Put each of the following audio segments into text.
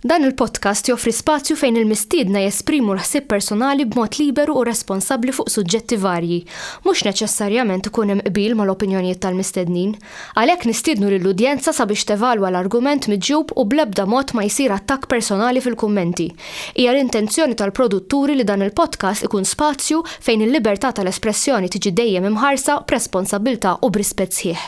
Dan il-podcast joffri spazju fejn il-mistiedna jesprimu l-ħsieb personali b'mod liberu u responsabbli fuq suġġetti varji. Mhux neċessarjament ikun hemm qbil mal-opinjonijiet tal-mistednin. Għalhekk nistiednu lill-udjenza sabiex tevalwa l-argument miġjub u bl-ebda mod ma jsir attakk personali fil-kummenti. Hija l-intenzjoni tal-produtturi li dan il-podcast ikun spazju fejn il-libertà tal-espressjoni tiġi dejjem imħarsa b'responsabbiltà u b'rispett sħiħ.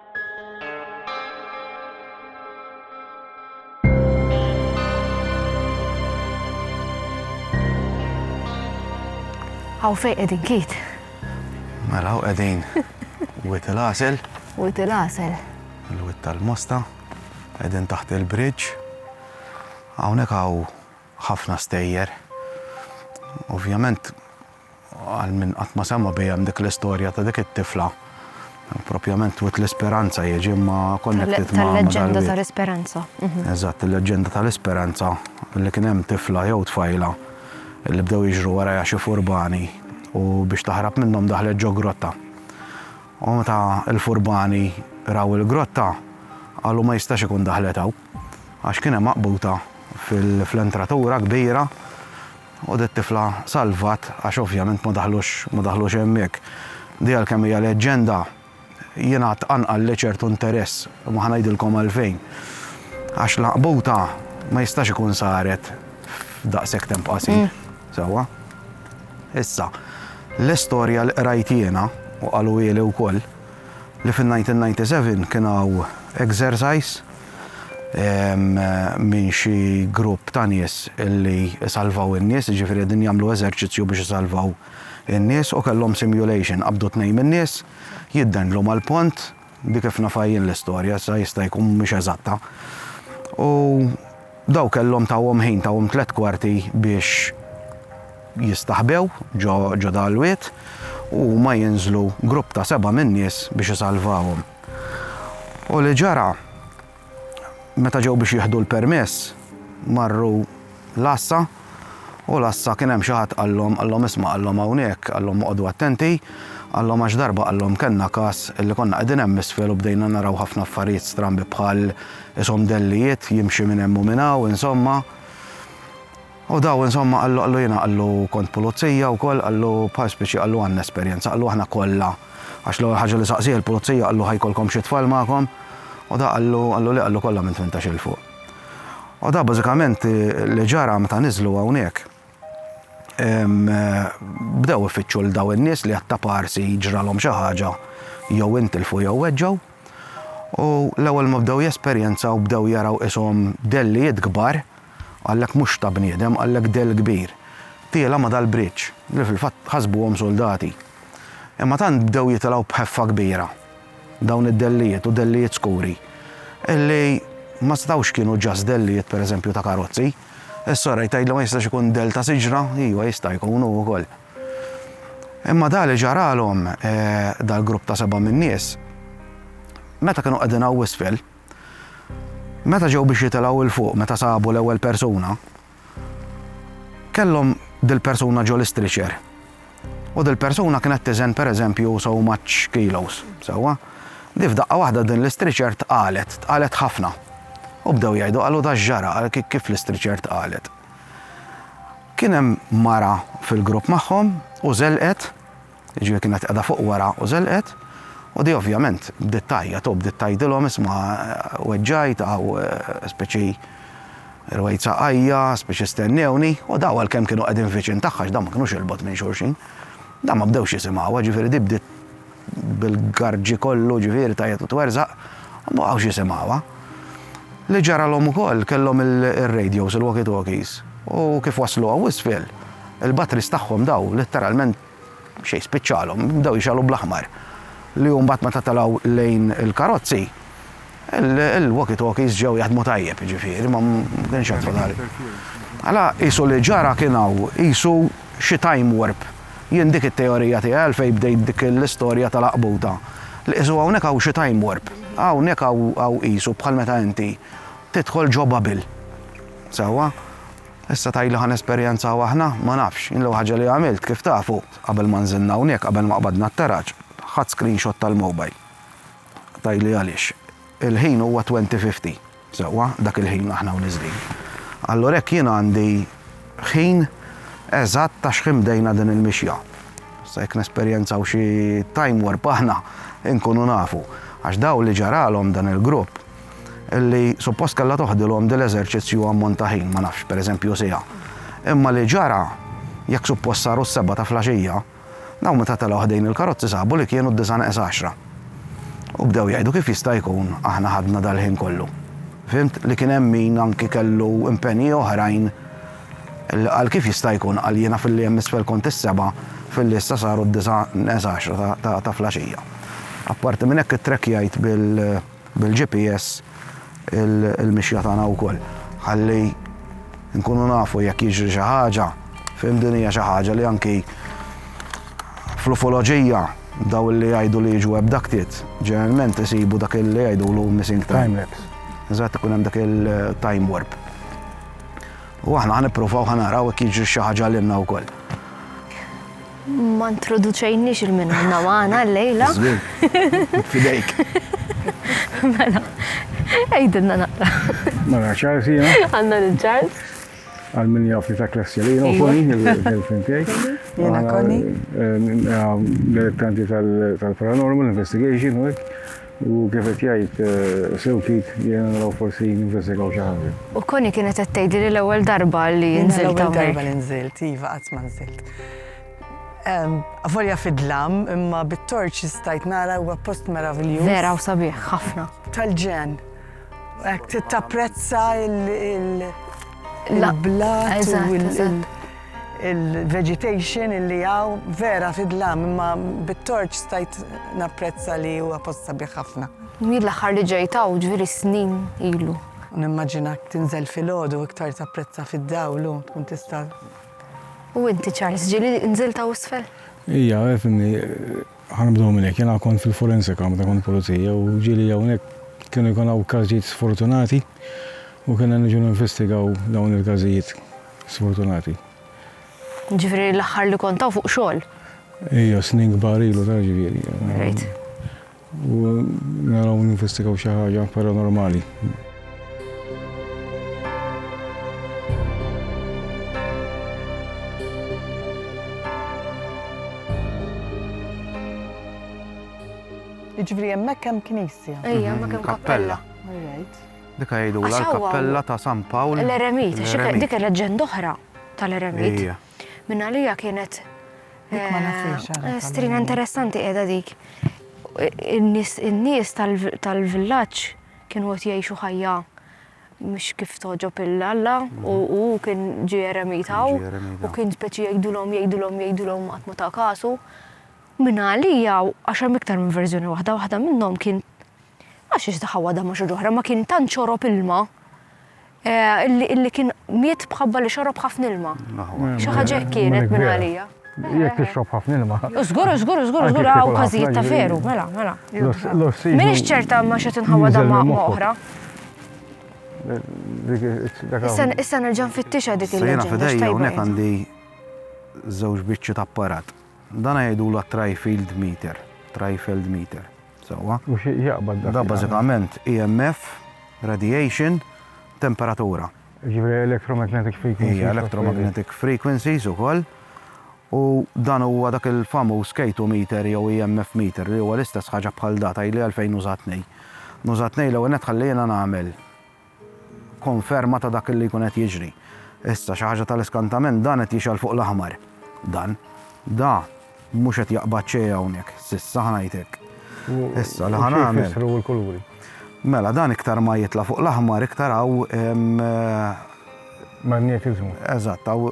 Għaw fej edin kiet. Mela għaw edin. Wit il-għasel. Wit il-għasel. Il-wit tal-mosta. Edin taħt il-bridge. Għawnek għaw ħafna stejjer. Ovvjament għal min qatt ma sema' biha hemm dik l-istorja ta' dik it-tifla. Propjament twit l-Isperanza jiġi ma konnettit ma' Tal-leġġenda tal-Isperanza. Mhm. Eżatt, il-leġġenda tal-Isperanza li kien hemm tifla jew tfajla li bdew jiġru wara xi furbani u biex taħrab minnhom daħlet ġo grotta. U meta l-furbani raw il-grotta qalu ma jistax ikun daħlet hawn għax kien hemm maqbuta fil-entratura kbira U dit-tifla salvat għax ovvjament ma daħlux ma daħlux hemmhekk. Di għalkemm hija leġġenda, jingħad tqanqalli ċertu interess u ma ħa ngħidilkom għalfejn. Għax l-għaqbuta ma jistax ikun saret f'daqshekk temp qasir. Sewwa? Issa, l-istorja li qrajt jiena, u qaluhieli wkoll, li fin-1997 kien hawn exercise minn xi grupp ta' nies li salvaw in-nies, jiġifieri qegħdin jagħmlu eżerċizzju biex isalvaw in-nies u kellhom simulation, qabdu tnejn min-nies, jiddendlu mal-pont, dik kif nafha jien l-istorja, issa jista' jkun mhix eżatta, u daw kellhom tawhom ħin, tawhom tliet kwarti biex jistaħbew ġo dal-wied u huma jinżlu grupp ta' seba' min-nies biex isalvawhom. U li ġara, meta ġew biex jieħdu l-permess, marru l-għassa, u l-għassa kien hemm xi ħadd qallhom, qallhom isma' qallhom hawnhekk, qallhom oqogħdu attenti, qallhom għax darba qallhom kellna każ li konna qegħdin hemm isfel u bdejna naraw ħafna affarijiet strambi bħal ishom dellijiet jimxi minn hemm u minn hawn, insomma. U daw insomma qallu qallu jiena qallu kont pulizija wkoll qallu bħal spiċi qallu għandna esperjenza qallu aħna kollha għax l-ewwel ħaġa li saqsieh il-pulizija qallu ħa jkollkom xi tfal magħkom u da qallu qallu le qallu kollha minn tmintax il fuq. U da bażikament li ġara meta niżlu hawnhekk bdew ifittxu l daw in-nies li għatta parsi ġralhom xi ħaġa jew intilfu jew weġġaw. U l-ewwel ma bdew jesperjenzaw bdew jaraw ishom dellijiet kbar Qallek mhux ta' bniedem, qallek dell kbir. Tiela' ma' dal-bridge, li fil-fatt ħasbuhom suldati. Imma tant bdew jitilgħu b'ħeffa kbira dawn id-dellijiet, u dellijiet skuri, illi ma setgħux kienu just dellijiet per eżempju ta' karozzi. Is-soraj tgħidli ma jistax ikun dell ta' siġra? Iva jista' jkun hu wkoll. Imma dak li ġaralhom dal-grupp ta' seba' min-nies, meta kienu qegħdin hawn isfel, Meta ġew biex jitilgħu 'l fuq meta sabu l-ewwel persuna, kellhom dil-persuna ġol-istriċer. U dil-persuna kienet tiżen pereżempju so much kilos, sewwa? Di f'daqqa waħda din l-istriċer tqalet, tqalet ħafna. U bdew jgħidu qalu da x'ġara, kif l-istriċer tqalet. Kien hemm mara fil-grupp magħhom u żelqet Jiġifieri kienet qiegħda fuq wara u żelqet, u di ovvjament bdiet tgħajjat, u bdiet tgħidilhom isma' weġġajt hawn spiċċi rwejt saqajja, spiċċi stennewni, u dawn għalkemm kienu qegħdin viċin tagħha għax dawn ma kinux il-bogħod minn xulxin, dawn ma bdewx jisimgħuha, jiġifieri di bdiet bil-garġi kollu jiġifieri tgħajjat u twerżaq, u ma baqgħux jisimgħuha. Li ġaralhom ukoll kellhom ir-radios, il-walkie-talkies, u kif waslu hawn isfel, il-batteries tagħhom dawn litteralment xejn spiċċalhom, bdew jixgħalu bl-aħmar. Li hu mbagħad meta telgħu lejn il-karozzi, il-walkie-talkies ġew jaħdmu tajjeb, jiġifieri ma kienx hemm fadal. Mela qisu li ġara kien hawn qisu xi time warp. Jien dik it-teorija tiegħi għalfejn bdejt dik l-istorja tal-għaqbuta. Li qisu hawnhekk hawn xi time warp. Hawnhekk hawn qisu bħal meta inti tidħol ġo bubble. Sewwa? Issa tgħidli ħa nesperjenzaw aħna? Ma nafx. Jien l-ewwel ħaġa li għamilt, kif tafu, qabel ma nżilna hawnhekk, qabel ma qbadna t-taraġ, ħadt screenshot tal-mobile. Tgħidli għaliex? Il-ħin huwa twenty fifty, sewwa, dak il-ħin aħna hawn niżlin. Allura hekk jien għandi ħin eżatt ta' x'ħin bdejna din il-mixja. Issa jekk nesperjenzaw xi time warp aħna, inkunu nafu. Għax dawn li ġaralhom dan il-grupp, li suppost kellha toħdilhom din l-eżerċizzju ammont ta' ħin, ma nafx, pereżempju siegħa. Imma li ġara, jekk suppost saru s-sebgħa ta' flaxija, dawn meta telgħu ħdejn il-karozzi sabu li kienu d-disa' neqes għaxra. U bdew jgħidu kif jista' jkun aħna ħadna dal-ħin kollu. Fhimt li kien hemm min anki kellu impenji oħrajn li qal kif jista' jkun qal jiena filli hemm isfel kont is-sebgħa filli issa saru d-disa' neqes għaxra ta' flaxija. Apparti minn hekk ittrekkjajt bil- Bil-GPS il-mixja tagħna wkoll ħalli nkunu nafu jekk jiġri xi ħaġa, fhimt din hija xi ħaġa li anki fl-ufoloġija daw li jgħidu li jiġu abducted ġeneralment isibu dak li jgħidulu missing time. Eżatt ikun hemm dak il-time warp. U aħna ħanippruvaw ħanaraw jekk jiġri xi ħaġa lilna wkoll. Ma introduċejniex il-min għandna magħna llejla. Żgur. Fidejk. Mela, għidilna naqra. Mela, Charles jiena. Għandna lil Charles. Għal min jaf li ta' klassi li jiena koni il-girlfriend tiegħi. Jiena koni. L-elettanti tal-paranormal investigation u hekk. U kif qed jgħid sew Keith, jiena naraw forsi ninvestigaw xi ħaġa. U Connie kienet qed tgħidli li l-ewwel darba li nżilt hawnhekk. L-ewwel darba li nżilt, iva, qatt ma nżilt. Avolja fid-dlam, imma bit-torċi stajt nara huwa post meraviljuż. Vera, u sabiħ, ħafna. Tal-ġenn. Ek tapprezza il-blat u il-vegetation illi għaw vera fidlam, imma bit-torċ stajt napprezza li huwa posta biħafna. ħafna. Jien l-aħħar li ġejtaw ġviri snin ilu. Nimmaġinak tinżel fil-ħodu iktar tapprezza fid-dawlu, tkun tista' U inti Charles, ġili nżilta u sfel? Ija, għefni, Ħa nibdew minn hekk, jiena kont fil-forensika meta kont pulizija u ġieli hawnhekk kienu jkun hawn każijiet sfortunati u kienna niġu ninvestigaw dawn il-każijiet sfortunati. Jiġifieri l-aħħar li kont hawn fuq xogħol? Ija, snin kbar ilu tara ġifieri. Rajt. U naraw ninvestigaw xi ħaġa paranormali. Iġvri jemmek kem knisja. Ejja, ma kem kappella. Dika jgħidu la kappella ta' San Pawl. L-eremit, dik leġġend oħra tal-eremit. Minna li kienet. Eh, strina interessanti edha dik. In-nies tal-villaċ kienu qed jgħixu ħajja mhux kif togħġob il Alla u hu kien ġie eremitaw u kien speċi jgħidulhom jgħidulhom jgħidulhom qatt ma ta' kasu. Minn għalija għax hemm iktar minn verżjoni waħda, waħda minnhom kien għax ix daħawa da ma xi ġoħra ma kien tant xorob ilma Eh, illi kien miet bħabba li xorob ħafna ilma. Xi ħaġa kienet minn għalija. Jekk tixrob ħafna ilma. Żgur, żgur, żgur, żgur hawn każijiet ta' veru, mela, mela. Minix ċerta ma xi tinħawa damma oħra. Issa nerġa' nfittixha dik il-leġenda. Sejna fidejja hawnhekk għandi żewġ biċċi ta' apparat. Dan jgħidu la trifield meter, trifield meter. Sewwa. U xi jaqbad dak? Dak bażikament EMF, radiation, temperatura. Jiġifieri electromagnetic frequencies. Hija electromagnetic frequencies ukoll. U dan huwa dak il-famuż K2 meter jew EMF meter li huwa l-istess ħaġa bħal da tgħidli għalfejn nuża tnej. Nuża tnej l-ewwel nett ħalli jiena nagħmel Konferma ta' dak li jkun qed jiġri. Issa, xi ħaġa tal-iskantament, dan qed jixgħel fuq l-aħmar. Dan. Da mhux qed jaqbad xejn hawnhekk, s'issa, ħa ngħid hekk. Issa, li ħa nagħmel. U xi jfissru l-kuluri? Mela, dan iktar ma jitla' fuq l-aħmar, iktar hawn. Magnetiżmu. Eżatt, hawn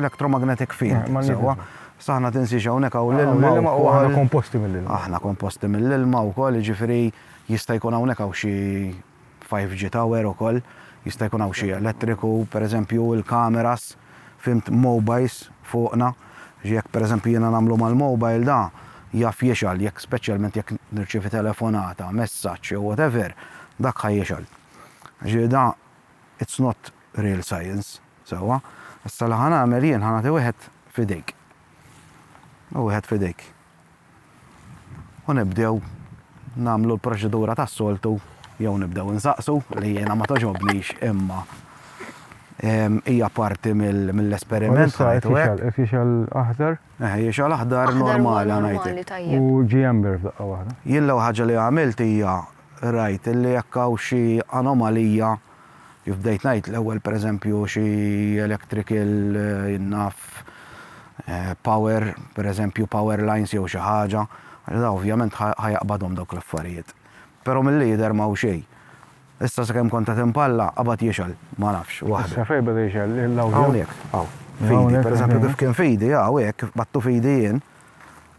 electromagnetic field. Sewwa. Issa aħna tinsiex hawnhekk hawn l-ilma. L-ilma u aħna komposti mill-ilma. Aħna komposti mill-ilma wkoll, jiġifieri jista' jkun hawnhekk hawn xi 5G tower ukoll, jista' jkun hawn xi elettriku, pereżempju l-cameras, fhimt, mobiles fuqna, jekk pereżempju jiena nagħmlu mal-mobile da jaf jixgħal jekk speċjalment jekk nirċievi telefonata, messaġġ jew whatever, dak ħa jixgħal. Jiġifieri da it's not real science, sewwa. Issa li ħa nagħmel jien ħa nagħti wieħed f'idejk. Hu wieħed f'idejk. u nibdew nagħmlu l-proċedura tas-soltu jew nibdew insaqsu li jiena ma toġobnix imma hija parti mill-esperiment. Issa qed jixgħal, qed jixgħal aħdar? Eh, jixgħal aħdar normali ngħidlek. U ġie ember f'daqqa waħda. Jien l-ewwel ħaġa li għamilt hija rajt li jekk hawn xi anomalija Kif bdejt ngħid l-ewwel pereżempju xi electrical jien naf power, pereżempju power lines jew xi ħaġa, da ovvjament ħa jaqbadhom dawk l-affarijiet. Però milli jidher ma hu xejn. Issa sakemm kont qed impalla, qabad jixgħel, ma nafx, waħdu. Issa fejn beda jixgħel? L-awdjo? Hawnhekk, hawn. F'idi, pereżempju kif kien f'idi, hawn hekk, kif qbadtu f'idi jien,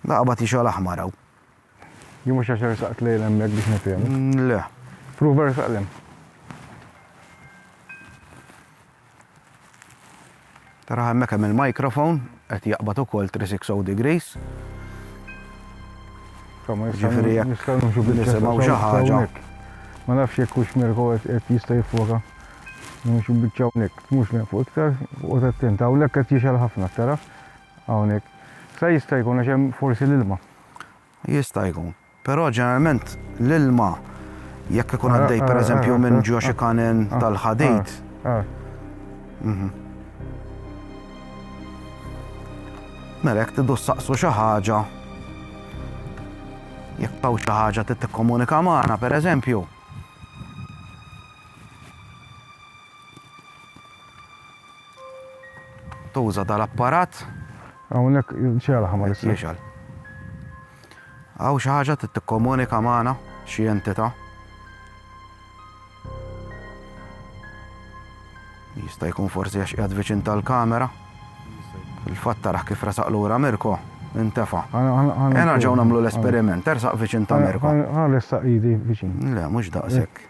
da qabad jixgħel aħmar hawn. Jien mhux għax ersaqt lejl hemmhekk biex nifhem. Mm, le. Prova ersaq lem. Tara hemmhekk hemm il-mikrofon qed jaqbad ukoll 360 degrees. Ġifieri jekk nisimgħu xi ħaġa. Ma nafx jekk hux Mirko qed jista' jiffoka. Mhux biċċa hawnhekk, mhux lejn fuq iktar, u tattent hawnhekk qed jixgħel ħafna tara hawnhekk. Sa jista' jkun għax hemm forsi l-ilma. Jista' jkun. Però ġeneralment l-ilma jekk ikun għaddej pereżempju minn ġo xi kanen tal-ħadid. Mela jekk tidu saqsu xi ħaġa jekk taw xi ħaġa trid tikkomunika magħna pereżempju. Tuża dal-apparat. Hawnhekk x'għal ħa ma nistgħux. Jekk jixgħel. Hawn xi ħaġa trid tikkomunika magħna, xi entità. Jista' jkun forsi għax qiegħed viċin tal-kamera. Il-fatt taraħ kif resaq lura Mirko, intefa. Ena ġew nagħmlu l-esperiment, ersaq viċin ta' Mirko. Għal ressaq idi viċin. Le, mhux daqshekk.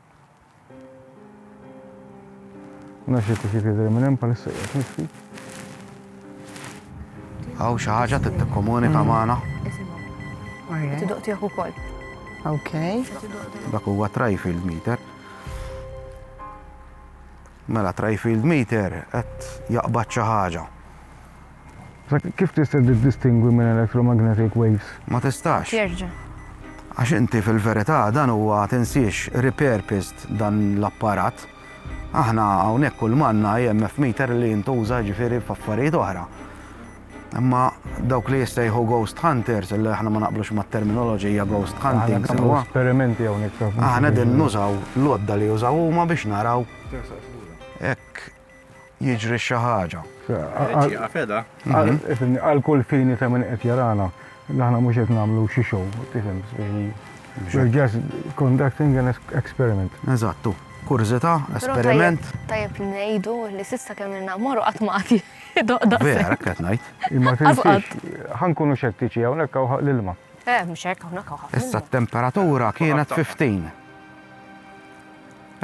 Nafx jekk ixi tidher minn hemm bħalissa qiegħed nitfi. Hawn xi ħaġa trid tikkomunika magħna. Tidoq tiegħek ukoll. Ok. Dak huwa trifield meter. Mela trifield meter qed jaqbad xi ħaġa. Kif tista' tiddistingwi minn electromagnetic waves? Ma tistax. Jerġa'. Għax inti fil-verità dan huwa tinsiex repurposed dan l-apparat. Aħna hawnhekk kulma għandna EMF meter li jintuża jiġifieri f'affarijiet oħra. Imma dawk li jissejħu ghost hunters, illi aħna ma naqblux mat-terminoloġija ghost hunting sewwa. Aħna nagħmlu esperimenti hawnhekk. Aħna qegħdin nużaw l-għodda li jużaw huma biex naraw. Hekk. jiġri xi ħaġa. Għal kull fini ta' minn qed jarana, aħna mhux qed nagħmlu xi show, tifhem, we're just conducting an experiment. Eżattu, kurżità, esperiment. Tajjeb ngħidu li s'issa kemm ilna mmorru qatt ma qati doqda. Vera, hekk qed ngħid. Imma tinsiex, ħankunu xettiċi hawnhekk hawn ħaq l-ilma. Eh, mhux hekk hawnhekk hawn ħafna. Issa t-temperatura kienet 15.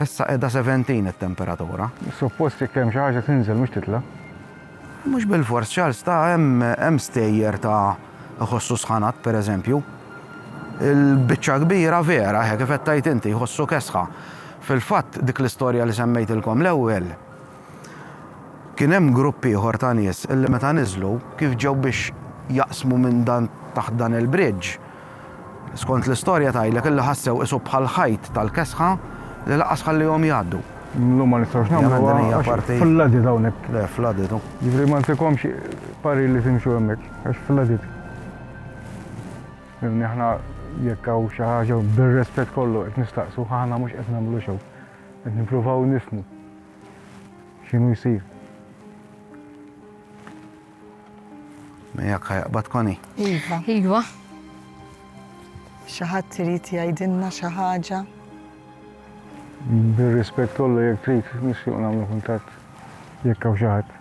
Issa qiegħda 17 it-temperatura. Suppost jekk hemm xi ħaġa tinżel mhux titla'. Mhux bilfors Charles ta hemm hemm stejjer ta jħossu sħanat pereżempju. Il-biċċa kbira vera eħe kif qed tgħid inti jħossu kesħa. Fil-fatt dik l-istorja li semmejtilkom l-ewwel, Kien hemm grupp ieħor ta' nies li meta niżlu, kif ġew biex jaqsmu minn dan taħt dan il-bridge, skont l-istorja tgħidlek illi ħassew qisu bħal ħajt tal-kesħa li laqqas ħallihom jgħaddu. Llum ma nistgħux nagħmluha għax flooded hawnhekk. Le, flooded hu. Jiġifieri ma ntikomx parir li timxu hemmhekk għax flooded. Fhimni, aħna jekk hawn xi ħaġa bir-rispett kollu qed nistaqsu, aħna mhux qed nagħmlu show. Qed nippruvaw nifhmu. X'inhu jsir? Miegħek ħajqbad Koni? Iva. Iva. Xi ħadd irid jgħidilna xi ħaġa? Bir-rispett kollu jekk trid nixtieq nagħmlu kuntatt jekk hawn xi ħadd.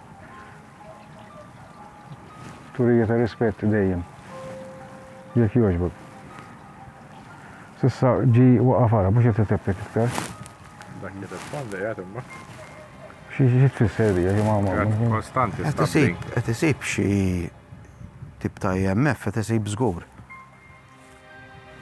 Turija ta' rispett dejjem. Jekk jogħġbok. Sissa ġi waqaf ara mhux qed iteppet iktar. Dak li tirrispondi qiegħed imma. Xi xi tfisser dija xi ma ma. Kostanti. Qed isib qed isib xi tip ta' IMF qed isib żgur.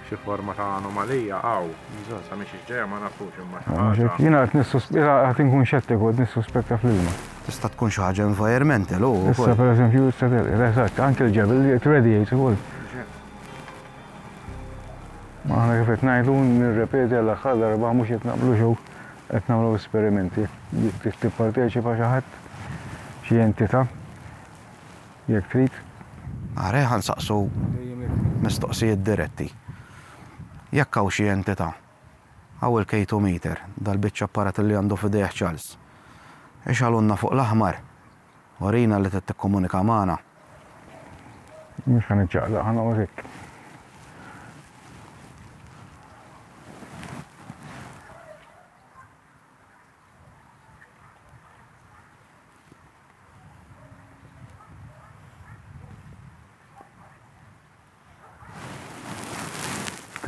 Xi forma ta' anomalija hawn. Sa minn xiex ġejja ma nafux imma xi ħaġa. Jiena qed nissuspetta qed inkun xettiku qed nissuspetta fl-ilma. Tista' tkun xi ħaġa environmental u. Issa pereżempju issa telqet, eżatt, anke l-ġebel qed iradiate ukoll. Ma aħna kif qed ngħidu nirrepeti għall-aħħar darba mhux qed naqblu jew qed nagħmlu esperimenti. Tipparteċipa xi ħadd, xi entità. Jekk trid. Are ħa nsaqsu mistoqsijiet diretti. Jekk hawn xi entità, hawn il-kejtometer, dal-biċċa apparat li għandu f'idejh Charles. Ixgħalulna fuq l-aħmar. Urina li trid tikkomunika magħna. Mhux ħa niċċaqlaq, ħa noqgħod hekk.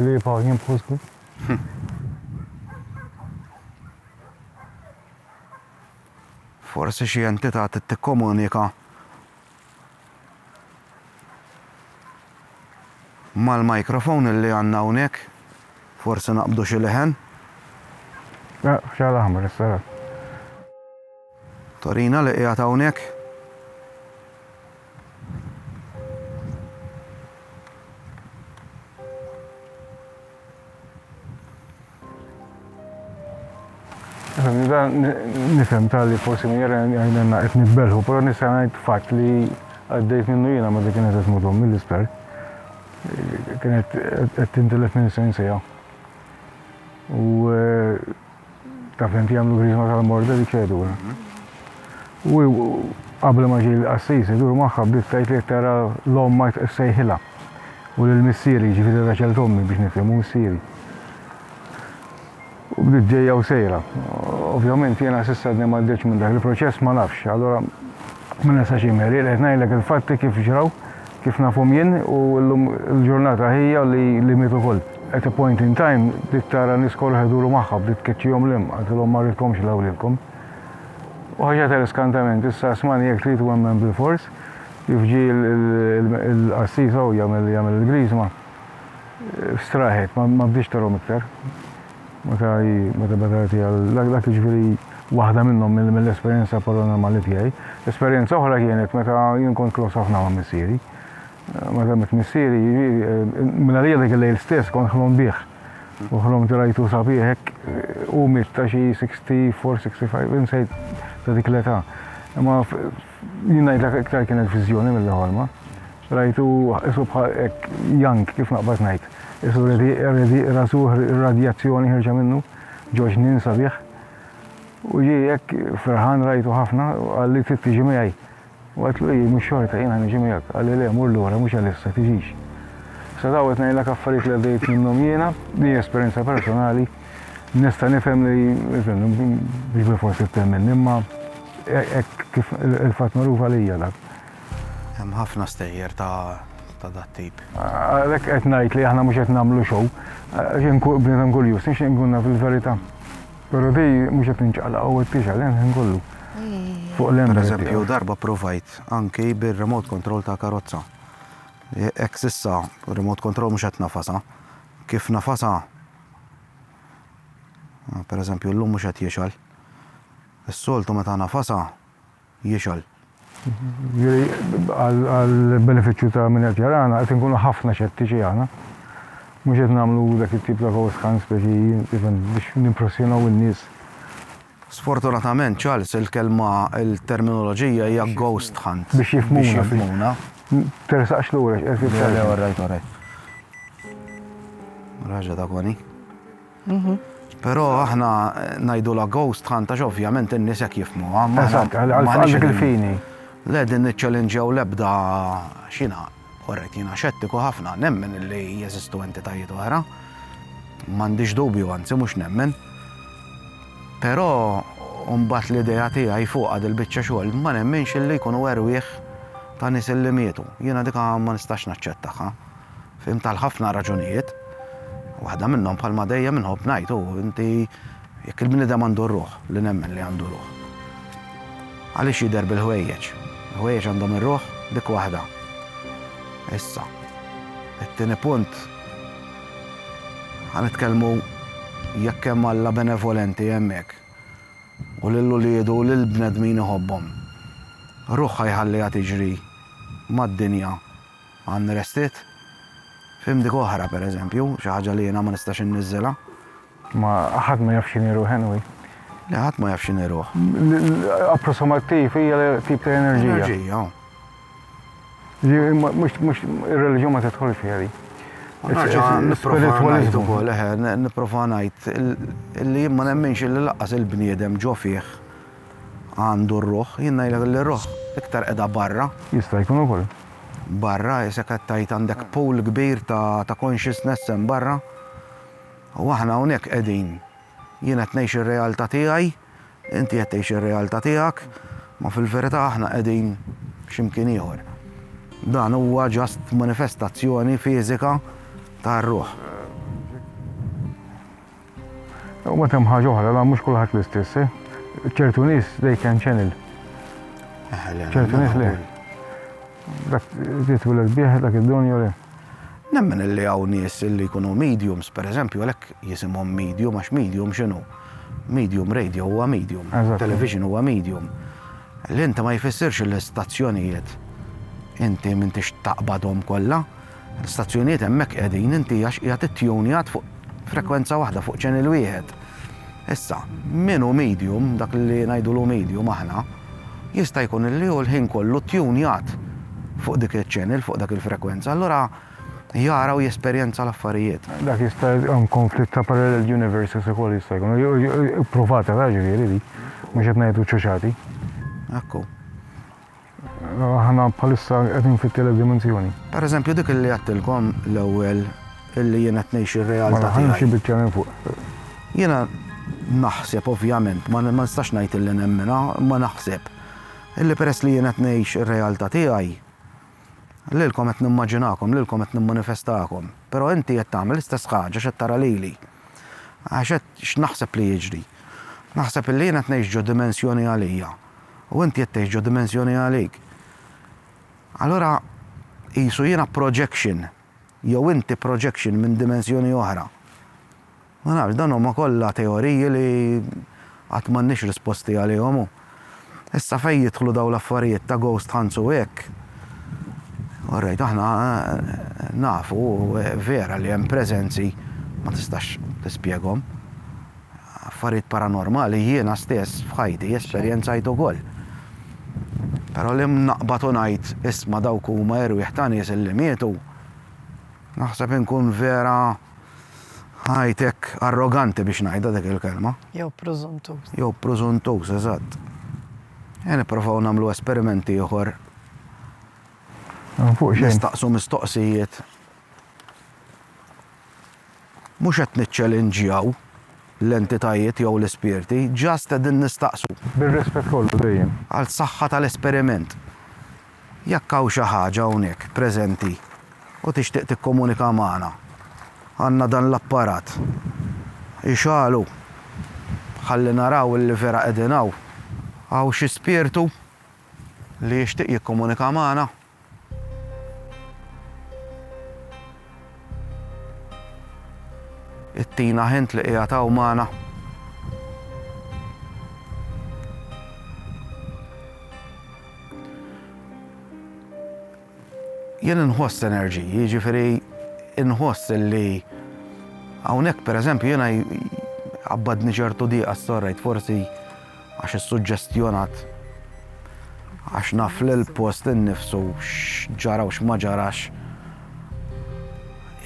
Kli pa' jien bħusku. Forsi xi entità tikkomunika Mal microphone illi għandna hawnhekk forsi naqbdu xi leħen. La, xagħal aħmar issa ra. Torina li qiegħed hawnhekk. Nifhem tal-li forsi minn jara għajnenna qed nitbelħu, però nista' ngħid fatt li għaddejt minnu jiena meta kienet qed tmut ommi l-isptar. Kienet qed tintilef minn sensija. U eh, Taf inti jagħmlu griżma tal-morda li ċedura. U qabel ma ġej l-qassis idur magħha bdiet tgħid li tara l-omm ma sejħilha. U lil missieri ġifieri raġel tommi biex nifhmu missieri. U bdiet ġejja u sejra. Ovvjament jiena s'issa għadni m'għaddejtx minn dak il-proċess ma nafx. Allura Ma nistax jien Mary, qed ngħidlek il-fatti kif ġraw, kif nafhom jien u llum il-ġurnata ħija li miet ukoll. At a point in time bdiet tara nies korroħ iduru magħha, bdiet tkeċċihom 'l hemm, qaltilhom ma rridkomx 'l hawn lilkom. U ħaġa ta' l-iskantament, issa smajna jekk trid u emmen bilfors, kif ġie l-qassis hawn jagħmel il-griżma, strieħet, ma bdiex tarahom iktar. Meta hi, meta beda tgħid hi, dak jiġifieri waħda minnhom mill-esperjenza paranormali tiegħi. Esperjenza oħra kienet meta jien kont close ħafna ma' missieri. Meta miet missieri, mingħalija dak il-lejl stess kont ħlomt bih. U ħlomt rajtu sabiħ hekk, hu miet ta' xi 64, 65, insejt ta' dik l-età. Imma Jien ngħidlek iktar kienet viżjoni milli ħolma. Rajtu isu bħal hekk jank kif naqbad ngħid. Isu redi rasu radjazzjoni ħirġa minnu, ġoġ nin sabiħ. U ġi hekk ferħan rajtu ħafna, għalli trid tiġi miegħi. U għedlu hi mhux xorta jiena niġi miegħek, għalli le mur lura mhux għalissa tiġix. Sa daw qed ngħidlek affarijiet li għaddejt minnhom jiena, din esperjenza personali. Nista' nifhem li biex bil-forsi temmen, imma hekk kif il-fatt magħruf għalija dak. Hemm ħafna stejjer ta' dat-tip. Għalhekk qed ngħid li aħna mhux qed nagħmlu show, għax hemm kull bniedem kurjuż, nixtieq inkun naf il-verità. Però di mhux qed ninċaqlaq u qed tixgħel hemm ħin kollu. Fuq l-hemm. Pereżempju, darba ppruvajt anki bir-remote control ta' karozza. Hekk s'issa remote control mhux qed nafasha. Kif nafasha Ah, per eżempju, l-lum mhux qed jixal. Is-soltu meta nafasa jixal. Jiri, għal-beneficju ta' minn qed jarana, qed inkunu ħafna xettiċi għana. Mhux qed nagħmlu dak it-tip ta' voice scan speċi even biex nimpressjonaw in-nies. Sfortunatament, Charles, il-kelma, il-terminoloġija hija ghost hunt. Biex jifhmuna. Biex jifhmuna. Tersaqx lura x'qed jifhem. Le, orrajt, orrajt. Raġa ta' kwani. Mhm. Però aħna ngħidu la ghost hunt għax ovvjament in-nies hekk jifhmuha. Eżatt, għal dik il-fini. Le din niċċellinġjaw l-ebda xina Korrett, jiena xettiku ħafna. Nemmen li jeżistu entitajiet oħra. M'għandix dubju, anzi mhux nemmen. Però mbagħad l-idea tiegħi fuqha dil-biċċa xogħol ma nemminx li jkunu erwieħ ta' nies illi mietu. Jiena dika ma nistax naċċettaha. Fhimt għal ħafna raġunijiet. Waħda minnhom bħalma dejjem inħobb ngħid hu inti Jekk il-bniedem għandu r-ruħ, li nemmen li għandu ruħ, għaliex jidher bil-ħwejjeġ? Il-ħwejjeġ għandhom ir-ruħ dik waħda. Issa, it-tieni punt, ħanitkellmu jekk hemm Alla benevolenti hemmhekk u lil uliedu u lil bnedmin iħobbhom. Ruħha jħalliha tiġri mad-dinja unrested. F'imdik oħra, pereżempju, xi ħaġa li jiena ma nistax inniżżilha, Ma ħadd ma jaf x'inhi ruħ anyway. Le ħadd ma jaf x'inhi ruħ. Approssimattiv hija tip ta' enerġija. Enerġija. Mhux ir-reliġjon ma tidħol fiha di. Spiritualiżmu wkoll, eħe, nipprova ngħid li ma nemminx li laqqas il-bniedem ġo fih għandu r-ruħ, jien ngħidlek li r-ruħ iktar qiegħda barra. Jista' jkun ukoll. Barra, isek qed tgħid għandek pool kbir ta' consciousness hemm barra. U aħna hawnhekk qegħdin. Jien qed ngħix ir-realtà tiegħi, inti qed tgħix ir-realtà tiegħek, ma fil-verità aħna qegħdin x'imkien ieħor. Dan huwa just manifestazzjoni fiżika tar-ruħ. U mbagħad hemm ħaġa oħra, la mhux kulħadd l-istess, eh? ċertu nies they can channel. Ċertu nies le. Dak li twiled bih, dak id-don jew le? Nemmen illi hawn nies illi jkunu mediums, per eżempju, għalhekk jisimhom medium, għax medium x'inhu? Medium radio huwa medium, television huwa medium. L-int ma jfissirx illi stazzjonijiet inti m'intix taqbadhom kollha. L-istazzjonijiet hemmhekk qegħdin inti għax qiegħed ittunjat fuq frekwenza waħda, fuq channel wieħed. Issa, min hu medium, dak li ngħidulu medium aħna, jista' jkun li hu l-ħin kollu ttunjat fuq dik iċ-channel, fuq dak il-frekwenza, allura jara u jesperjenza l-affarijiet. Dak jista' jkun konflitt ta' parallel universes ukoll jista' jkun. Ippruvatela ġifieri dik, mhux qed ngħidu ċuċati. Hekk hu. Aħna bħalissa qegħdin fit-tielet dimensjoni. Per eżempju dik illi għattilkom l-ewwel illi jiena qed ngħix ir-realtà Mela ħalli xi biċċa minn fuq. Jiena naħseb ovvjament, ma nistax ngħid illi nemminha, imma naħseb illi peress li jiena qed ngħix ir-realtà tiegħi, lilkom qed nimmaġinakom, lilkom qed nimmanifestakom. Però inti qed tagħmel l-istess ħaġa x'qed tara lili. Għax qed x'naħseb li jiġri. Naħseb illi jiena qed ngħix ġo dimensjoni għalija. u inti qed tgħix ġo dimensjoni għalik. Allura qisu jiena projection jew inti projection minn dimensjoni oħra. Ma nafx, dawn huma kollha teoriji li għad m'għandniex risposti għalihom u issa fejn jidħlu dawn l-affarijiet ta' ghost hunts u hekk, orrejt aħna nafu vera li hemm preżenzi ma tistax tispjegahom. Affarijiet paranormali jiena stess f'ħajti esperjenzajt ukoll. Però li naqbad u ngħid isma' dawk huma erwieħ ta' nies illi mietu, naħseb inkun vera ngħid hekk arroganti biex ngħidha dik il-kelma. Jew prużuntuż. Jew prużuntuż, eżatt. Ejja nipprovaw nagħmlu esperiment ieħor. Nistaqsu mistoqsijiet. Mhux qed niċċelinġjaw l-entitajiet jew l-ispirti, just qegħdin nistaqsu. Bir-rispett kollu dejjem. Għall-saħħa tal-esperiment. Jekk hawn xi ħaġa hawnhekk preżenti u tixtieq tikkomunika magħna, għandna dan l-apparat. Ixagħlu. Ħalli naraw li vera qegħdin hawn. Hawn xi spirtu li jixtieq jikkomunika magħna? Ittina ħint li qiegħed hawn magħna. Jien inħoss enerġiji, jiġifieri inħoss li hawnhekk pereżempju jiena abbadni ċertu diqa storrejt forsi għax issuġġestjonat għax naf li l-post innifsu x'ġara u x'ma ġarax.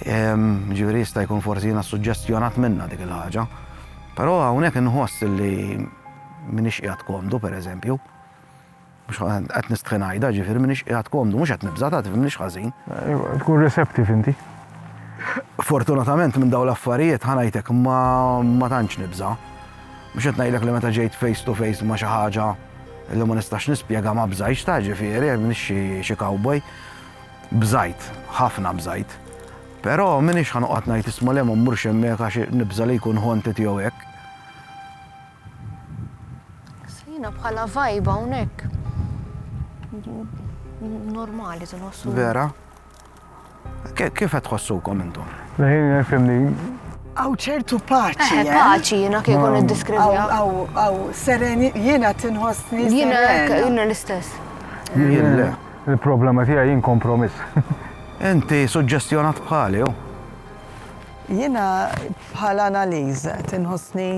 Ġifieri jista' jkun forsi jiena suġġestjonat minnha dik il-ħaġa. Però hawnhekk inħoss li minix qiegħed komdu pereżempju. Mhux qed nistħi ngħidha, jiġifieri m'iniex qiegħed komdu, mhux qed nibża' ta' tifhimniex ħażin. Tkun receptive inti. Fortunatament minn dawn l-affarijiet, ħa ngħidlek, ma tantx nibża'. Mhux qed ngħidlek li meta ġejt face to face ma' xi ħaġa li ma nistax nispjega ma bżajtx ta' ġifieri, m'iniex xi cowboy. Bżajt, ħafna bżajt. Però m'iniex ħa noqgħod ngħid isma' le ma mmurx hemmhekk għax nibża' li jkun ħontit jew hekk. Jiena bħala vibe hawnhekk. Normali tinħossu. Vera? Kif qed tħossukom intom? Leħin nifhimni. Aw ċertu paċi. Eh, eh? paċi jiena kif kun iddiskrivja. Aw aw sereni jiena tinħossni. Jiena jiena l-istess. Jiena il-problema tiegħi jien kompromiss. Inti suġġestjonat bħali, oh. Jiena bħala analiz tinħossni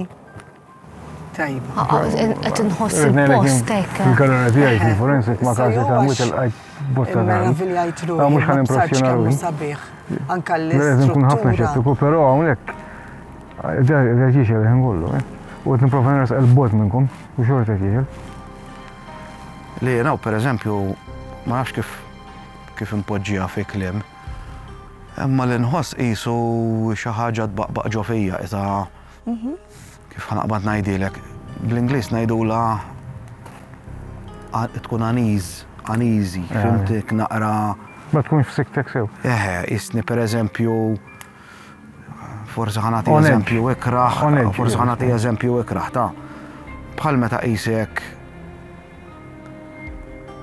Tajba. Ah, ah, qed inħoss il-post hekk. Il-galera tiegħi kien forensic ma każi ta' mhux il-qajt bosta ta' Meraviljajt ruħi. Ah, mhux ħan impressjonaw. Sabiħ. Anka l Lezim kun ħafna xettiku, però hawnhekk da ġiex il-ħin kollu. Eh. U qed nipprova nras il-bot minnkom u xorta ġiex. Li naw pereżempju ma nafx kif kif impoġġija fi kliem. Imma l-inħoss qisu xi ħaġa tbaqbaq ġo fija, Kif ħanaqbad ngħidilek, bl-Ingliż ngħidulha tkun aniż, aniżi, fimtik naqra. Ma tkunx f'siktek sew. Eħe, isni pereżempju forsi ħanati eżempju ikraħ, forsi ħanati eżempju ikraħ ta' bħal meta qisek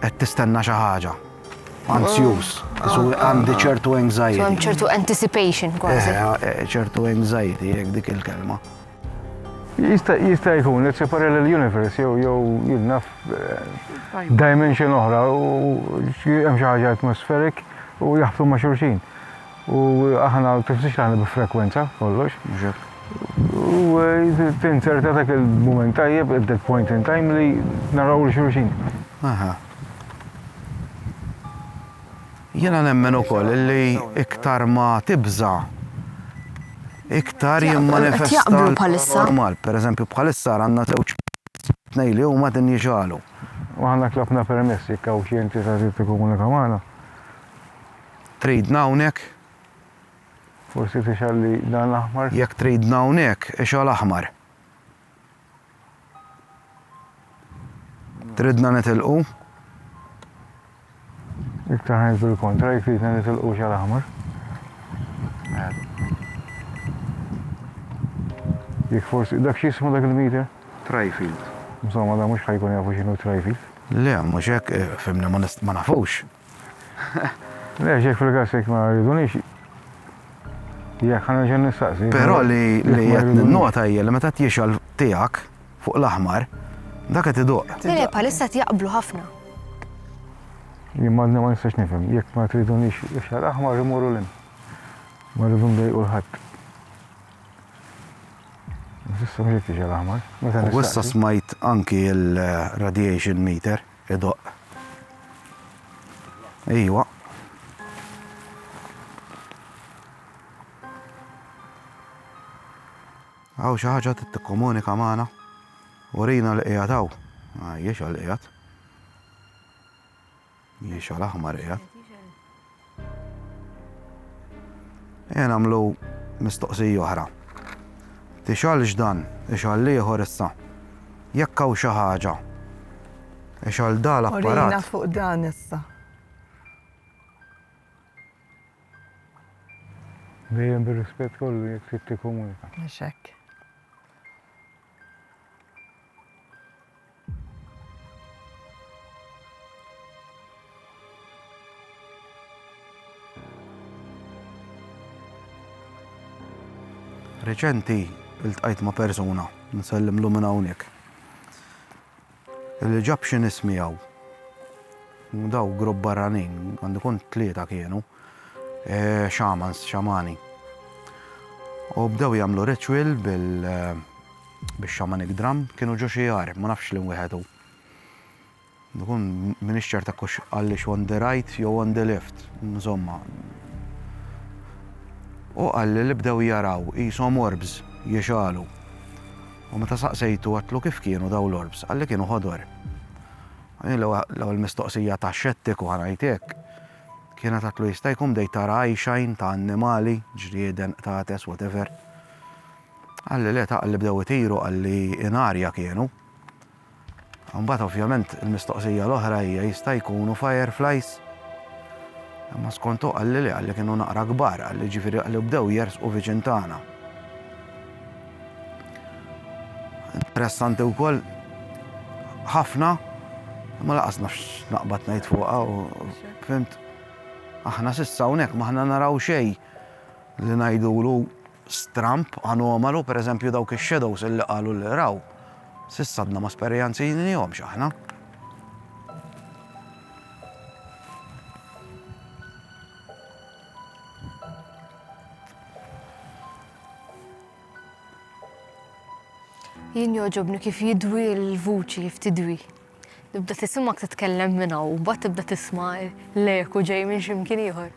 qed tistenna xi ħaġa. Anzjuż, isu ah, ah, għandi ah. ċertu anxiety. Għandi ċertu anticipation eh, kważi. Eh, ċertu anxiety, jek dik il-kelma. Jista' jkun li separel l-universe jew jew jilnaf eh, dimension oħra u hemm xi ħaġa atmosferik u jaħbtu ma' xulxin. U aħna tifsix aħna bi frekwenza kollox. U tinserta dak il-moment tajjeb at that point in time li naraw l-xulxin. Jiena nemmen ukoll li iktar ma tibża' iktar jimmanifesta l-paranormal. Per eżempju bħalissa ara għandna żewġ tnejn li huma qegħdin jixgħalu. Aħna tlabna permess jekk hawn xi entità trid tikkomunika magħna. Tridna hawnhekk? Forsi tixgħalli dan l-aħmar? Jekk tridna hawnhekk, ixgħal aħmar. Tridna nitilqu? Iktar ħajn bil-kontra, jek tridna nitilqu xal aħmar. Jek forsi, dak xismu dak il-meter? Trifield. Insomma, da mux ħajkun jafu xinu trifield. Le, mux jek, eh, fimna ma nafux. Le, xejn fil-każ jekk ma jridunix. Jekk ħa nerġa' nistaqsi. Però li qed ninnota hija li meta tjixgħel tiegħek fuq l-aħmar, dak qed iduq. Le, le, bħalissa qed jaqblu ħafna. Jien ma nistax nifhem, jekk ma tridunix ixgħel aħmar imorru lil. Ma rridu ndejqu l-ħadd. Issa mhux qed tixgħel aħmar. U issa smajt anki l-radiation meter. Idoqq. Ejwa. Għaw xi ħaġa trid tikkomunika magħna. Urina li qiegħed hawn. Għajjex għal qiegħed. Jiex għal aħmar qiegħed. Ejja nagħmlu mistoqsija oħra. Tixgħalx dan, ixgħal ieħor issa. Jekk hawn xi ħaġa, ixgħal da l-apparat. Urina fuq dan issa. Dejjem bir-rispett kollu jekk trid tikkomunika. Mhux hekk. Reċenti iltqajt ma' persuna, nsellimlu minn hawnhekk, li ġab xi nies miegħu. Daw grupp barranin, għandu jkun tlieta kienu, xamans, xamani. U bdew jagħmlu ritual bil- Bix-shamanic drum kienu ġo xi għar, ma nafx liem wieħed hu. Nkun m'iniex ċert hekk hux qallix on the right jew on the left, insomma. U qalli li bdew jaraw qishom orbs jixgħalu. U meta saqsejtu għedtlu kif kienu dawn l-orbs, qalli kienu ħodor. L-ewwel mistoqsija ta' xettiku ħa ngħid hekk, kienet għedtlu jista' jkun bdejt tara eyeshine ta' annimali, ġrieden, qtates, whatever. Qalli le ta' qalli bdew itiru qalli in arja kienu. Imbagħad ovvjament il-mistoqsija l-oħra hija jista' jkunu fireflies? Imma skont hu qalli le qalli kienu naqra kbar qalli ġifieri qalli bdew jersqu viċin tagħna. Interessanti wkoll ħafna imma laqas naf x'naqbad ngħid fuqha u fhimt aħna s'issa hawnhekk m'aħna naraw xejn li ngħidulu stramb anomalu, per eżempju dawk ix-shadows illi qalu li raw, s'issa għadna ma sperjanzjnihomx aħna. Jien joġobni kif jidwi l-vuċi, kif tidwi. Tibda tisma kif titkellem minna u bat tibda tisma l-eku ġej minn ximkien ieħor.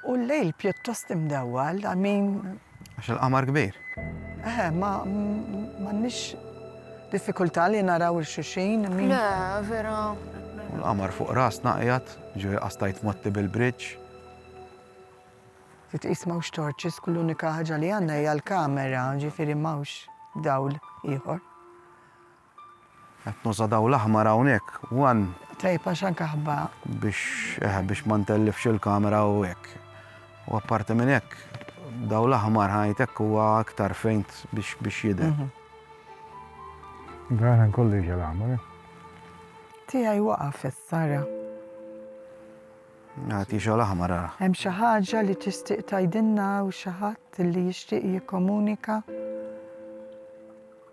U l-lejl pjuttost imdewwal, I mean. Għax il-qamar kbir. Eħe, ma m'għandniex diffikultà li naraw il xuxin, I mean. Le, vera. U l-qamar fuq rasna qiegħed, ġifieri qastajt motti bil-bridge. Titqis m'hawnx torches, kull unika ħaġa li għandna hija l-kamera, ġifieri m'hawnx dawl ieħor. Qed nuża dawl aħmar hawnhekk one. Tajjeb għax anke ħabba. Biex eh biex ma ntellifx il-kamera u hekk. U apparti minn hekk, dawl aħmar ħajt hekk huwa aktar fejnt biex biex jidher. Dan kollu jiġi l-aħmar. Eh? Tiegħi waqaf is-sara. Nagħti xogħol aħmar ara. Hemm xi ħaġa li tixtieq tgħidilna u xi ħadd li jixtieq jikkomunika?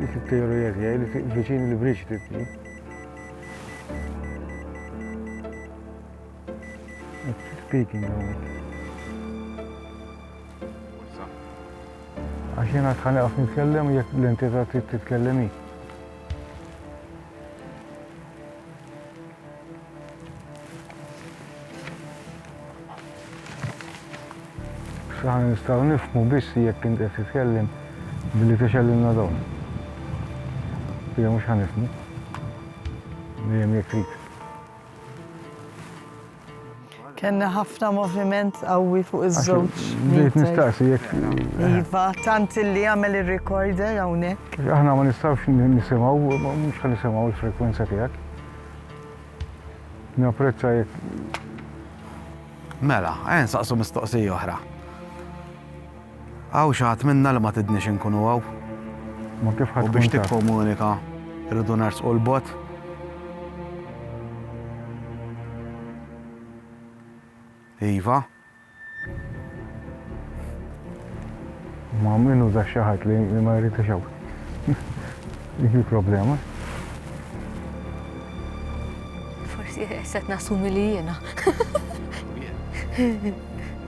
Dik it-teorija tiegħi li fiq viċin li briċ tibni. Speaking of it. Għax jena tħani għaf nitkellem jek l-entità titkellemi. Aħna nistgħu nifhmu biss jekk int qed titkellem billi tixellilna dawn. Hija mhux ħanifhmu. Dejjem jekk trid. Kellna ħafna moviment qawwi fuq iż-żewġ. Bdejt nistaqsi jekk. Iva, tant li għamel ir-recorder hawnhekk. Aħna ma nistgħux nisimgħu, mhux ħa nisimgħu l-frekwenza tiegħek. Napprezza jekk. Mela, ejja nsaqsu mistoqsija oħra. Hawn xi ħadd minna li ma tridniex inkunu hawn. Ma kif ħa tkun taf. U biex tikkomunika rridu nersqu 'l bogħod. Iva. Ma min uża xi ħadd li ma jrid ixew. Dik il-problema. Forsi qed nassumi li jiena.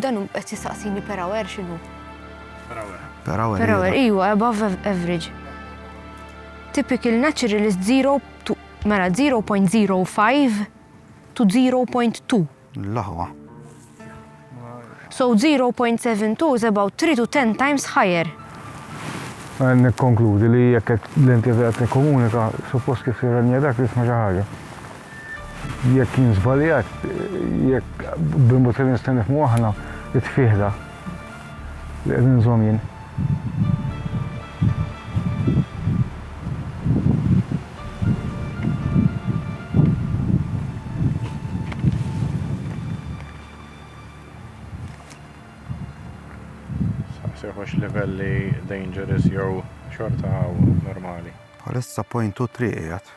Dan hu qed jistaqsini per hour x'inhu? Per hour. Per hour. Per hour, iva, above average. Typical naturalist 0 to mela 0.05 to 0.2. L-aħwa. So 0.72 is about 3 to 10 times higher. Għan nikkonkludi li jekk l-inti qed nikkomunika, suppost kif tirrenja dak li jisma' xi ħaġa. Jekk jien żbaljat, jekk bil-mod li nistgħu nifhmu aħna, it-tfigħ da li qed inżomm jien. Saqsihux livelli dangerous jew xorta hawn normali. Bħalissa point u triq qiegħed.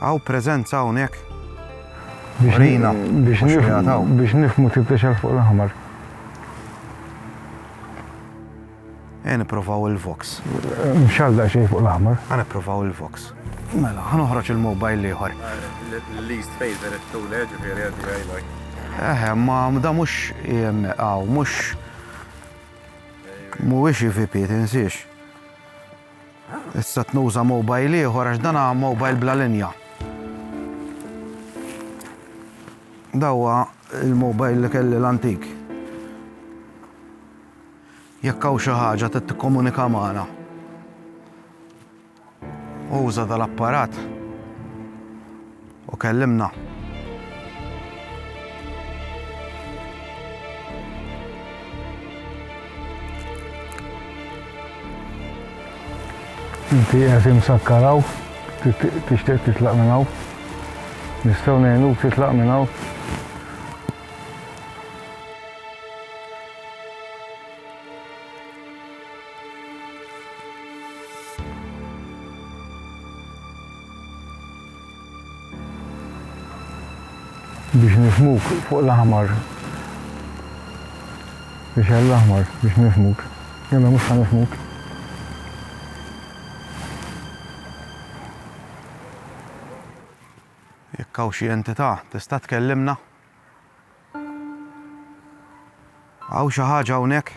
Hawn preżenza hawnhekk? Urina. Biex nifhmu tip ta' xagħar fuq l-aħmar. Ejja nipprovaw il-Vox. Mxagħar daqsxejn fuq l-aħmar. Ejja nipprovaw il-Vox. Mela, ħa noħroġ il-mobile l-ieħor. Least favorite tool, ġifieri għandi għajlaj. Eħe, ma da mhux hawn, mhux mhuwiex IVP, tinsiex. Issa tnuża mobile ieħor għax dan mobile bla linja. Dawwa il-mobile li kelli l-antik. Jekk hawn xi ħaġa trid tikkomunika magħna. Uża dal-apparat. U kellimna. Inti qed imsakkar hawn, tixtieq titlaq minn hawn. Nistgħu ngħinuk titlaq minn hawn. Biex nifhmuk fuq l-aħmar Biex għall-aħmar biex nifhmuk Jalla mhux ħa nifhmuk Jekk hawn xi entità tista' tkellimna? Hawn xi ħaġa hawnhekk?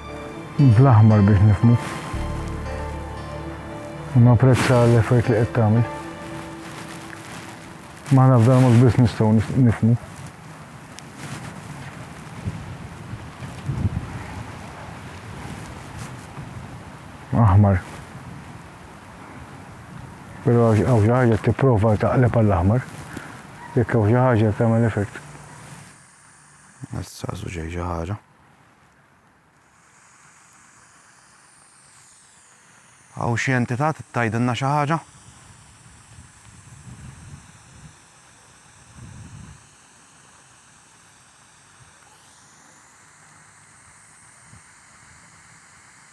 Bl-aħmar biex nifmu. Ma prezza l-effort li qed tagħmel. Ma naf dan mhux biss nistgħu nifmu. Aħmar. Però hawn xi ħaġa tipprova taqleb għall-aħmar. Jekk hawn xi ħaġa tagħmel effort. Issa żuġej ġaħara. Hawn xi entità trid tgħidilna xi ħaġa?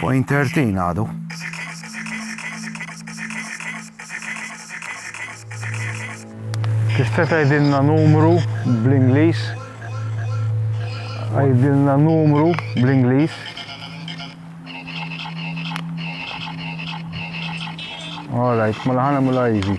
Point 13 għadu. Tista' tgħidilna numru bl-Ingliż? Għidilna numru bl-Ingliż. All right, mela ħana mela easy.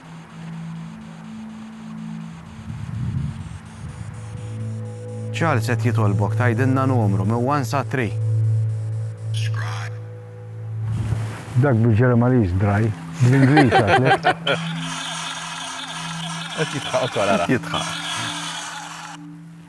Charles qed jitolbok tgħidilna numru minn one sa three. Dak bil-Ġermaniż dry, bl-Ingliż għatlek. Qed jidħaq ukoll ara. Jidħaq.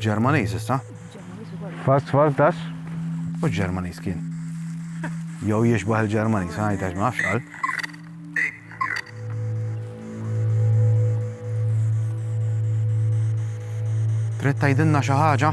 Bil-Ġermaniż issa? Fast fast das? U Ġermaniż kien. Jew jixbaħ il-Ġermaniż, għajt għax ma nafx qal. Trid tgħidilna xi ħaġa?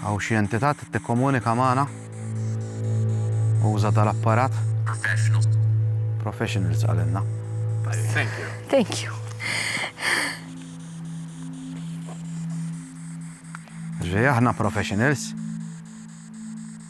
Hawn xi entità trid tikkomunika magħna? Uża dal-apparat. Professionals. Professionals qalilna. Thank you. Thank you. Ġej aħna professionals.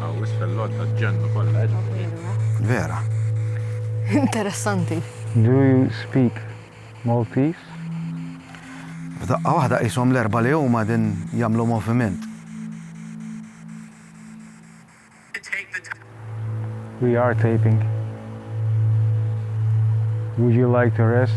Għawis fil-lod ta' ġennu kollha ġifieri. Vera. Interessanti. Do you speak Maltese? F'daqqa waħda qishom l-erbgħa li huma din jagħmlu moviment. We are taping. Would you like to rest?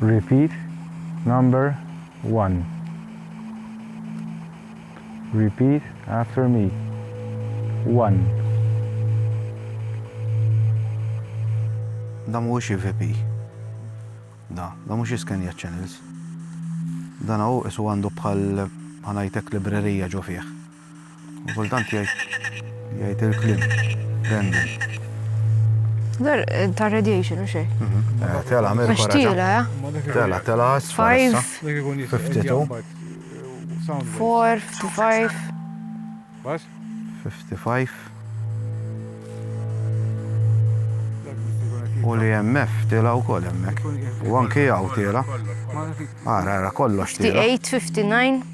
Repeat number one. Repeat after me. One. Da mhuwiex EVP. Da, da mhux jiskenja channels. Dan hu isu għandu bħal ħa ngħidlek librerija ġo fih. U kultant jgħid jgħid il-kliem. Random. Dar ta' radiation u xej. Eh, Tela, Amerika. Għax tila, ja? Tela, tela, sfarsa. 52. 4, 55. Bas? 55. U li MF tila u kol emmek. U anki għaw tila. Ara, ara, kollox tila. 58, 59.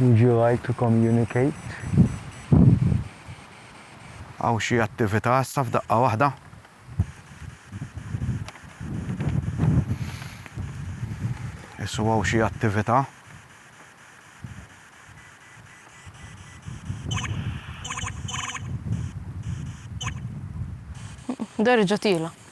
Would you like to communicate? Hawn xi attività issa f'daqqa waħda. Issu hawn xi attività. Derġa' tiela'.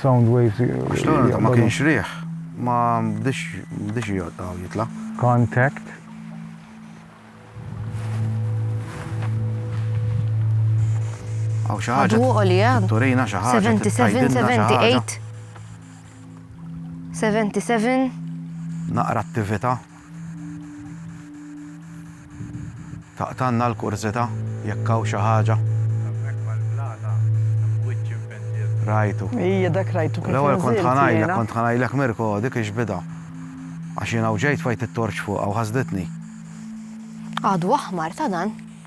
Sound waves. Għax l-għalqa ma kienx riħ, ma bdiex jgħodda u jitla. Contact. Għaw xaħġa. Għadu għolija. Turina xaħġa. 77, 78. 77. Naqra attivita. Taqtgħalna l-kurżità jekk hawn xi ħaġa. Hemmhekk mal-blata hemm wiċċ impenġir. Rajtu. Ija dak rajtu kif inżilt jiena. L-ewwel kont ħa ngħidlek, kont ħa ngħidlek Mirko dik hix bidgħa. Għax jiena u ġejt fajt it-torċ fuqha u ħasditni. Għadu aħmar ta' dan.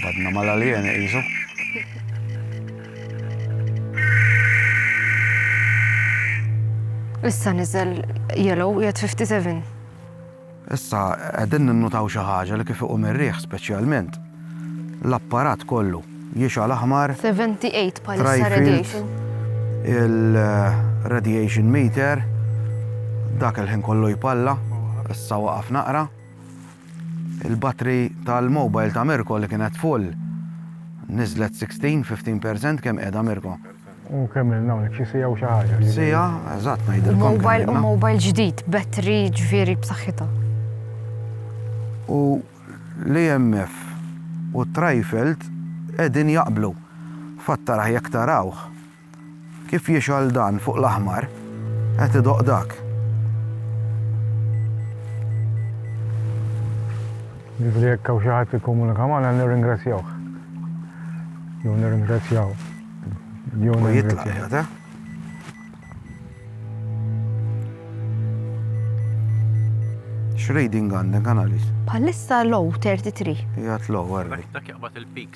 Badna mal-aljeni qisu. Issa niżel yellow jgħid 57. Issa qegħdin ninnutaw xi ħaġa li kif iqum ir-riħ speċjalment l-apparat kollu jixgħal aħmar. 78 bħalissa radiation. Il-radiation meter dak il-ħin kollu jpalla, issa waqaf naqra. Il-batri tal-mobile ta' Mirko li kienet full niżlet 16, 15 percent kemm qiegħda Mirko? U kemm ilna hawnhekk xi siegħa u xi ħaġa. Siegħa, eżatt ngħidilkom. Mobile u mobile ġdid, batri ġifieri b'saħħitha. U l-EMF u t-trajfelt qegħdin jaqblu. Fatt taraħ jekk tarawh. Kif jixgħal dan fuq l-aħmar, qed idoqq dak. Ġifri jekk hawn xi ħadd ikkomunika magħna nirringrazzjawh. Jew nirringrazzjaw. Jew nirringrazzjaw. X'reading għandek analyst? Bħalissa low 33. Jgħat low, għarri. Dak jaqbad il-peak.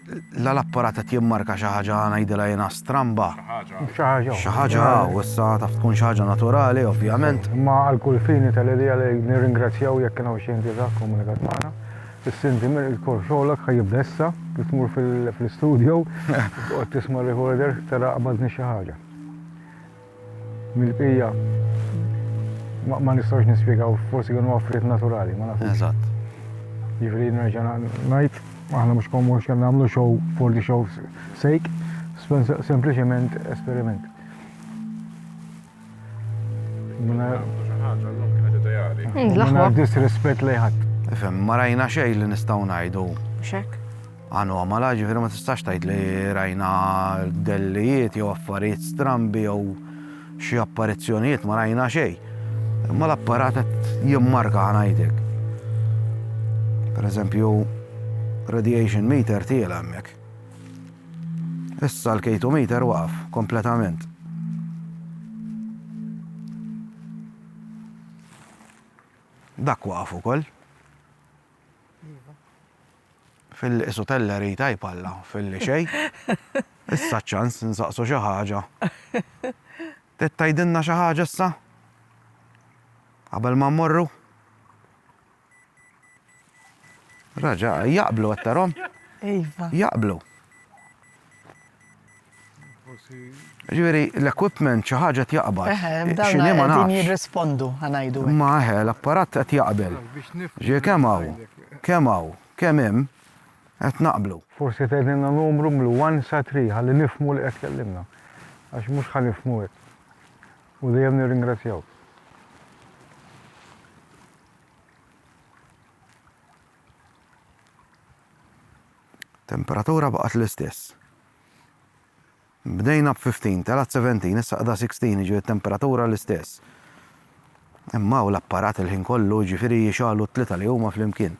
La l-apparat qed jimmarka xi ħaġa ngħidilha jiena stramba. Xi ħaġa. Xi ħaġa hawn issa taf tkun xi ħaġa naturali ovvjament. Imma għal kull fini tal-idea li nirringrazzjaw jekk kien hawn xi entità kkomunikat magħna. Is-Sinti Mir il-korp xogħlok ħa jibda issa, kif tmur fl-istudio, toqgħod tisma' r-recorder tara qabadni xi ħaġa. Mill-bqija ma nistgħux nispjegaw forsi kienu affarijiet naturali, ma nafx. Eżatt. Jiġri nerġa' ngħid, aħna mhux komux kemm nagħmlu show for the show sake, sempliċement esperiment. Minna disrespett li ħadd. Ifhem, ma rajna xejn li nistgħu ngħidu. Xek. Anomala, jiġifieri ma tistax tgħid li rajna dellijiet jew affarijiet strambi jew xi apparizzjonijiet ma rajna xejn. Imma l-apparat qed jimmarka ħanajtek. Per eżempju, radiation meter tiela hemmhekk. Issa l-K2 meter waqaf kompletament. Dak waqaf ukoll. Filli qisu teller hi tajb Alla, filli xejn. Issa ċ-ċans insaqsu xi ħaġa. Trid tgħidilna xi ħaġa issa? Qabel ma mmorru? Raġa, jaqblu għattarhom? Iva. Jaqblu. Ġifieri l-equipment xi ħaġa qed jaqbad. Eħe, dawn qegħdin jirrispondu ħanajdu. Ma eħe, l-apparat qed jaqbel. Ġie kemm hawn, kemm hawn, kemm hemm qed naqblu. Forsi tgħidilna numru mlu one sa three ħalli nifhmu li qed tkellimna. Għax mhux ħa nifhmu hekk. U dejjem nirringrazzjawk. Temperatura baqgħet l-istess. Bdejna b'15, telat 17, issa qda 16, jiġifieri temperatura l-istess. Imma hawn l-apparat il-ħin kollu jiġifieri jixgħalu t-tlieta li huma flimkien.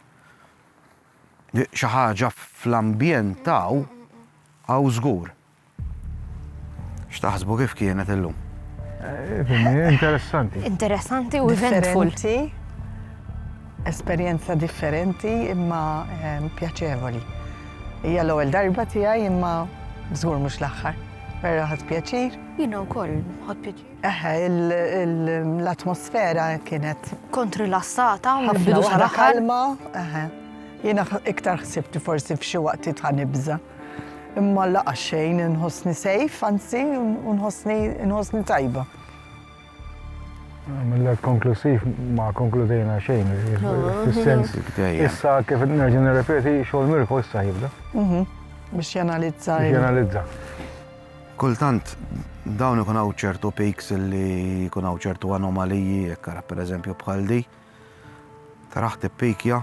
Xi ħaġa fl-ambjent hawn hawn żgur. X'taħsbu kif kienet illum? Interessanti. Interessanti u eventful. Esperjenza differenti imma pjaċevoli. Hija l-ewwel darba tiegħi imma żgur mhux l-aħħar. Vera ħadt pjaċir. Jiena wkoll ħadt pjaċir. Eħe, l-atmosfera kienet. Kont rilassata u l-bidu sar aħħar. Ħafna kalma, eħe. Jiena iktar ħsibt forsi f'xi waqtiet ħa nibża'. Imma laqa xejn inħossni safe, anzi inħossni tajba. Mill-għed konklusiv ma konkludejna xejn, fil-sens, issa kif nerġu nirrepeti xogħol mirko issa jibda. Mhm. Biex janalizza. Biex janalizza. Kultant, dawn ikun hawn ċertu peaks li jkun hawn ċertu anomaliji, ekkara per eżempju bħal di. Taraħ tippikja,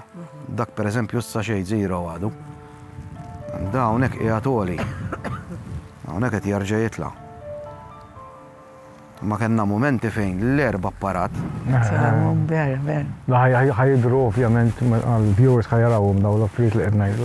dak per eżempju issa xejn zero għadu. Da hawnhekk qiegħed għoli. Hawnhekk qed jerġa' jitla'. Ma kellna mumenti fejn l-erba apparat. Ħajidru ovvjament għal viewers ħajarawhom daw l-affarijiet li qed ngħidu